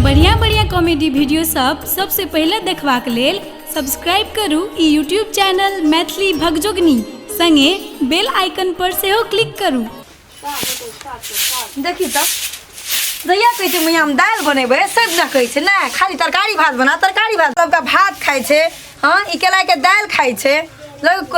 बढ़िया बढ़िया comedy video सब सबसे पहिले देखबाक लेल सब्सक्राइब करू ई यूट्यूब चैनल मैथिली भगजोगनी संगे बेल आइकन पर सेहो क्लिक करू देखी तऽ जहिया कहै छै मैया हम दालि बनेबै से दिना कहै छै नहि खाली तरकारी भात बना तरकारी भात सबके भात खाइ छै हँ ई केलाके दालि खाइ छै लोक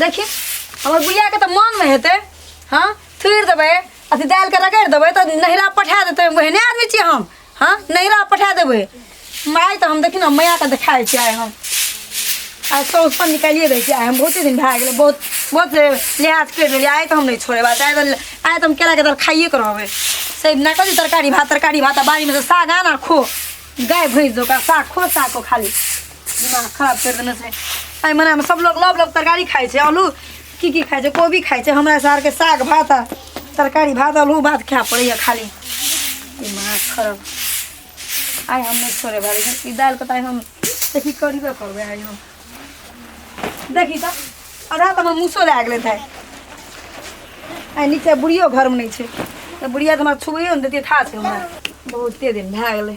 देखी हमर बुढ़िया के तो मन में हेते हाँ फिर देबे अथी दाल के रगड़ देबे तो नहिरा पठा देते बहने आदमी छियै हम हाँ नहिरा पठा देबे माय तो हम देखी ना मैया के देखाए छियै आइ हम आ सौस पर निकालिए दै छियै आइ हम बहुते दिन भए गेलै बहुत बहुत लिहाज करि लेलियै आइ तऽ हम नहि छोड़े बात आइ तऽ आइ तऽ हम केलाके दर खाइए के रहबै से ना कथी तरकारी भात तरकारी भात आ बाड़ीमे से साग आन आ खो गाय भैंस दो का साग खो साग को खाली दिमाग खराब कर देने से एहि महीनामे सब लोग लव लव तरकारी खाइ छै आलू की की खाइ छै कोबी खाइ छै हमरा सारके साग भात आ तरकारी भात आलू भात खाए पड़ैए खाली दिमाग खराब आइ हम नहि छोड़े भारी ई दालिके तऽ आइ हम देखी करबे करबै आइ हम देखी तऽ आधा तऽ हमर मूसो लए गेलै तऽ आइ नीचे बुढ़ियो घरमे नहि छै तऽ बुढ़िया तऽ हमरा छुबैयो ने देतियै था छै हमरा बहुते दिन भए गेलै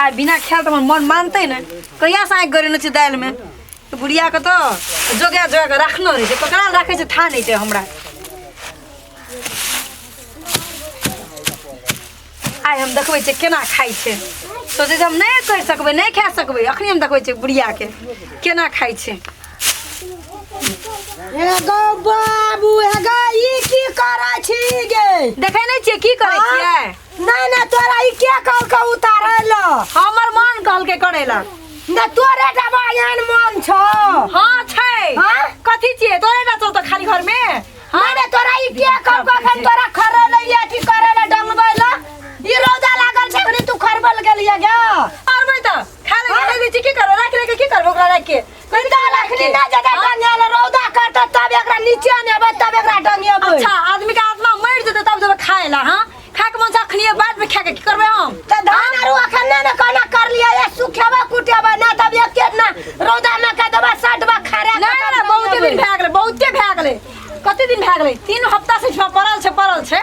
आ बिना खायल त हमर मन मानतै ने कहिया से आँखि गरेने छै दालिमे तऽ बुढ़ियाके तऽ जोगा जोगा कऽ राखने रहै छै ककरा लग राखै छै था नहि छै हमरा आइ हम देखबै छियै केना खाइ छै सोचै छै हम नहि करि सकबै नहि खा सकबै अखनी हम देखबै छियै बुढ़ियाके केना खाइ छै एगो बाबू एगो ई की करै छी गे देखे नहीं छे की करे हाँ? छिए नहीं नहीं तोरा ई के कल के उतारे लो हमर मन कहल के करेला न तोरे टा बयान मन छो हां छै हाँ? कथी छिए तोरे ना तो खाली घर में नहीं नहीं तोरा ई के कल के अखन तोरा खरे ले ये की करे ले डंगबै लो ई रोजा लागल छै अखनी तू खरबल गेलिए गे अरबै त खाली हाँ? घर में छी की करे राख ले के की करबो ओकरा राख के कुत्ता रखली ना जगह डंगेल रौदा करता तब एकरा नीचे ने अब तब एकरा डंगेबै अच्छा आदमी के आत्मा मर जेतै तब जेबै खाए ला हाँ खाए के मन से अखनिए बाद में खाए के की करबै हम त धान आरु अखन ने ने कहना कर लिया ये सुखेबा कुटेबा ना तब एक के ना रौदा में के देबा सटबा खरे ना ना बहुते दिन भए गेलै बहुते भए गेलै कते दिन भए गेलै तीन हफ्ता से छुआ पड़ल छै पड़ल छै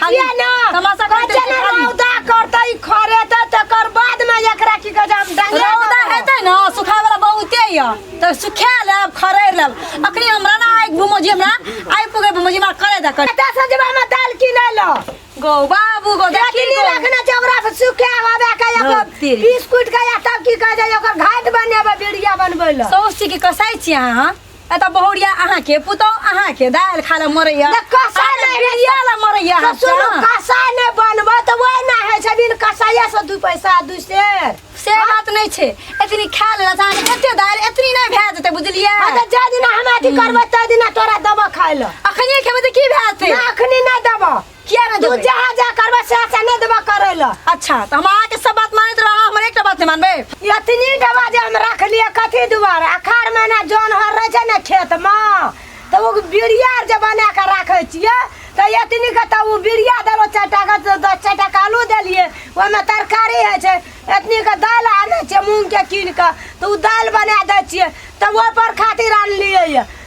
खाली किया ना तमाशा करते कच्चे ना खाली रौदा करते ई खरे त तकर बाद में एकरा की कहे हम डांगे रौदा हेतै न सुखाय वाला बहुते य त सुखा लेब खरै लेब अखनी हमरा ना आइ घुमो जे हमरा आइ पुगे घुमो जे हमरा करे द करे दस हजार में दाल किने लो गो बाबू गो देखी देखनी गो। रखना चौरा से सुखे हवा का हाँ, एगो तेरी। बिस्कुट का या तब की कहे जाय ओकर घाट बनेबे बीड़िया बनबै लो सौसी के कसाइ छी अहाँ ए त बहुरिया अहाँ के पुतौ अहाँ के दाल खा ले मरैया त कसा ले बिरिया ले मरैया तो सुनो कसा ने बनबो तो वही ना है छै बिन कसाया से दू पैसा दू शेर से बात नहीं छे एतनी खा ले अहाँ के एते दाल एतनी नहीं भए जेते बुझलियै आ त जा दिना हम अथी करबो त दिना तोरा दबो खाय ल अखनिए खेबै त की भए जेते ना अखनी ना दबो किया ना तू देबे जहाँ जा करबे से अच्छा नहीं देबा करे ला अच्छा तो हम आके सब बात मानत रहा हमर एकटा बात नहीं मानबे इतनी डबा जे हम रख लिए कथी दुआरे अखार महीना जौन हर रहे छै ने खेत मे तऽ ओ बिरिया आर जे बना कऽ राखै छियै तऽ इतनी के तऽ ओ बिरिया देलहुँ चारि टा के तऽ दस चारि टा के आलू देलियै ओहिमे तरकारी होइ छै इतनी के दालि आनै छियै मूँगके कीन कऽ तऽ ओ दालि बना दै छियै तऽ ओहिपर खातिर आनलियै यऽ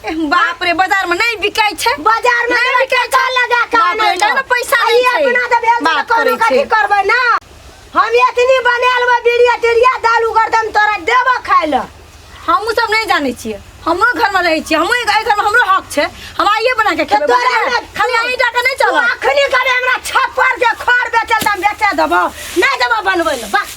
बाप रे बाजार में नहीं बिकाई छे बाजार में नहीं बिकाई का लगा का बाप रे, ना पैसा नहीं छे। अपना दे भेल बात कोनो करै कथी छै। करबै ना हम एतनी बनायल बा बीड़िया टेरिया दाल उगर दम तोरा देब खाय ल हमू सब नहीं जाने छिए हमरो घर में रहे छिए हमू एहि घर में हमरो हक छे हम आइए बना के खेबै तोरा बाजार में। हमरा- खाली आइ डाका नहीं तू चल अखनी करे हमरा छप्पर के खर बेचल दम बेचे देबो नहीं देबो बनबै ल बस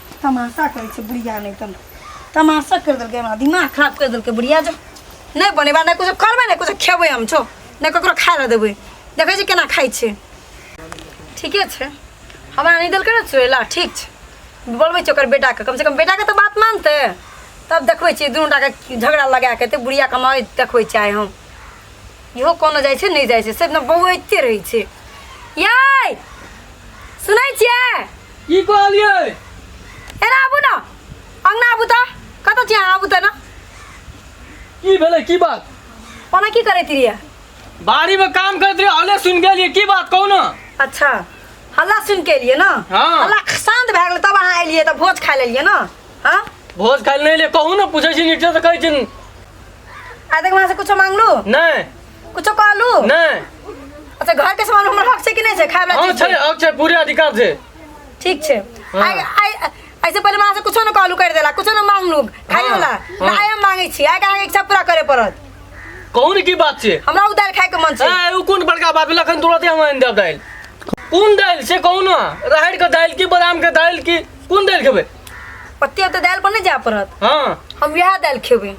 तमाशा करै छै बुढ़िया नहि तन तमाशा कर देलकै हमरा दिमाग खराब कर देलकै बुढ़िया जो नहि बनेबा नहि किछु करबै नहि किछु खेबै हम छो नहि ककरो खाय लए देबै देखै छी केना खाइ छै ठीके छै हमरा नहि देलकै ने चुड़ैला ठीक छै बोलबै छै ओकर बेटाके कमसँ कम बेटाके तऽ बात मानतै तब देखबै छियै दुनू टाके झगड़ा लगा कऽ एते बुढ़िया कमाइ देखबै छियै आइ हम इहो कोनो जाइ छै नहि जाइ छै से एकदम बौआइते रहै छै यै सुनै छियै की कहलिए एना आबू ना अंगना आबू त कत छी अहाँ आबू त ना की भेलै की बात ओना की करैत रहिए बाड़ी में काम करत रहे हले सुन गेलिए की बात कहू ना अच्छा हल्ला सुन के एलिए ना हाँ। हल्ला शांत भए गेलै तब अहाँ एलिए त भोज खाय लेलिए ना हाँ भोज खाइल नहीं ले कहू ना पूछे छी नीचे से कहै छी आ देख वहाँ से कुछो मांगलू नहीं कुछो कहलू नहीं अच्छा घर के सामान हमर हक छै कि नहीं छै खाए वाला हम चीज छै छै? अब छै पूरे अधिकार छै ठीक छै हाँ। आइ आइ ऐसे पहले मां से कुछो न कहलू कर देला कुछो न मांगलू खाए हाँ, वाला हाँ। ना आइ हम मांगे छी आइ के इच्छा पूरा करे पड़त कौन की बात छै हमरा उधार खाए के मन छै ए उ कोन बड़का बात भेल अखन तुरते हम आनि देब दालि कोन दालि से कौन राहड़ के दालि की बादाम के दालि की कोन दालि खेबै पत्ती तो दाल पर नहीं जा पड़त हाँ हम यह दाल खेबे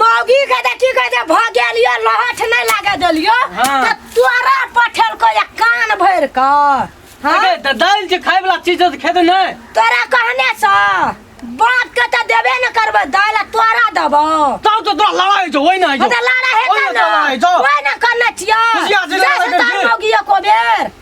मौगी के तऽ की कहै छै भऽ गेल यऽ लहठ नहि लागऽ देलियो हाँ। तऽ तोरा पठेलको या कान भरि कऽ हाँ? अरे, तऽ दालि जे खाय वाला चीज है तऽ खेतै नहि तोरा कहने सँ बाप के तऽ देबे ने करबै दालि आ तोरा देबो तब तऽ तोरा लड़ाइ छौ ओहिना होइ छौ। मतलब लारा हेतै ओहिना ने लड़ाइ छौ। ओहिना करने छियै खुशिया से लड़ाइ जाइ छै करके। तोहर मौगियो को बेर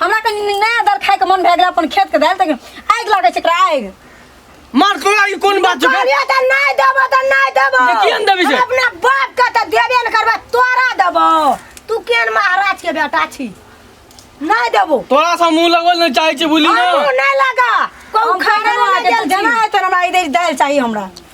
हमरा कनि नया दाल खाइके मन भए गेल अपन खेतके दाल तऽ आगि लागै छै एकरा आगि मार तोरा ई कोन बात छै कहलिए तऽ नहि देबो तऽ नहि देबो तऽ किएक नहि देबही से? हम अपना बाप के तऽ देबे ने करबै तोरा देबो तू केन महाराज के बेटा छी नहि देबो तोरा से मुंह लगवल नहीं चाहे छी बुली ना हमहूँ नहि लगा कहू हम खाना खाना बना के तू जाना है तो हमरा इधर दाल चाहिए हमरा